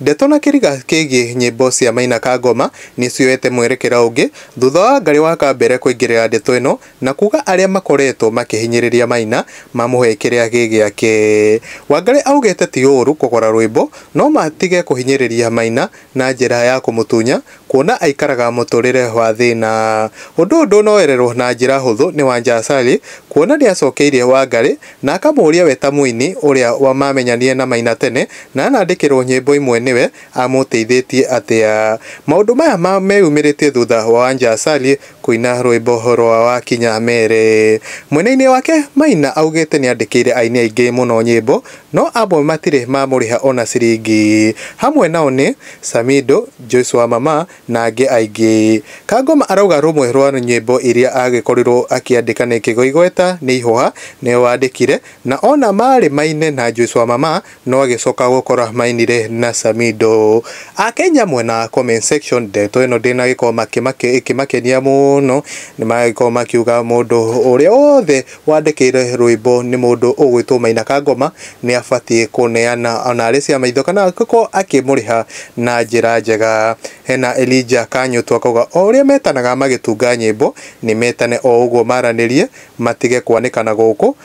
Ndeto na kĩriga kĩgiĩ nyĩmbo cia Maina Kangoma nĩ cioete mwerekera ũngĩ thutha wa Wangari wa Kambere kũingĩrĩra ndeto ĩno na kuuga arĩa makoretwo makĩhinyĩrĩria Maina mamũhe kĩrĩa gĩ gĩake. Wangari augĩte ti ũũru kũgũra rwĩmbo no matige kũhinyĩrĩria Maina na njĩra ya kũmũtunya Kuona aikaraga mũtũũrĩre wa thĩna. Ũndũ ũyũ ndũnoererwo na njĩra hũthũ nĩ Wanja Sally kuona nĩacokeirie Wangarĩ na akamũũria we ta mũini ũrĩa mamenyanire na Maina tene na anandĩkĩrwo nyĩmbo imwe nĩwe amũteithĩtie atĩa. Maũndũ maya meyumĩrĩtie thutha wa Wanja Sally Kũina rwĩmbo rwa Wakinya Mere. Mwena-inĩ wake, Maina augĩte nĩandĩkĩire aini aingĩ mũno nyĩmbo no amwe matirĩ mamũrĩha ona ciringi. Hamwe nao nĩ, Samido, Joyce wa Mama na angĩ aingĩ. Kangoma arauga rũmwe rwa nyĩmbo iria agĩkorirwo akĩandĩka nĩ Kĩgwa Igweta nĩ Ihũha nĩwe wandĩkire na ona marĩ maine na Joyce wa Mama No agĩcoka gũkora mainire na Samido. Akenya mwena wa comment section ndeto ĩno ndĩna gĩko makĩmake ĩkĩmakenia mũno nĩmagĩkorwo makiuga mũndũ ũrĩa wothe wandĩkĩire rwĩmbo nĩ mũndũ ũgwĩtwo Maina Kangoma nĩabatiĩ kũneana ona arĩ cia maitho kana angĩkorwo akĩmũrĩha na njĩra njega. Hena Elijah Kanyũtũ akauga o ũrĩa metanaga magĩtunga nyĩmbo nĩmetane o ũguo maranĩrie matige kwanĩkana gũkũ.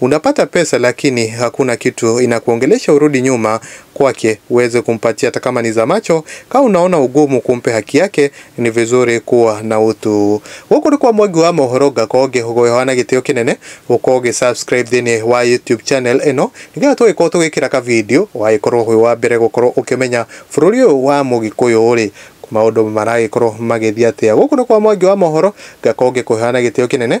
Unapata pesa lakini hakuna kitu inakuongelesha urudi nyuma kwake uweze kumpatia hata kama ni za macho. Kama unaona ugumu kumpe haki yake, ni vizuri kuwa na utu. Gũkũ nĩ kwa Mwangi wa mohoro ngakorwo ngĩhogoyoha na gĩtĩo kĩnene ũkorwo ũgĩ subscribe thĩinĩ wa YouTube channel ĩno nĩgetha tũgĩkorwo tũgĩkĩra ka video wagĩkorwo wĩ wa mbere gũkorwo ũkĩmenya bũrũri ũyũ wa mũgĩkũyũ rĩ maũndũ maragĩkorwo magĩthiĩ atĩa. Gũkũ nĩ kwa Mwangi wa mohoro ngakorwo ngĩkũheana gĩtĩo kĩnene.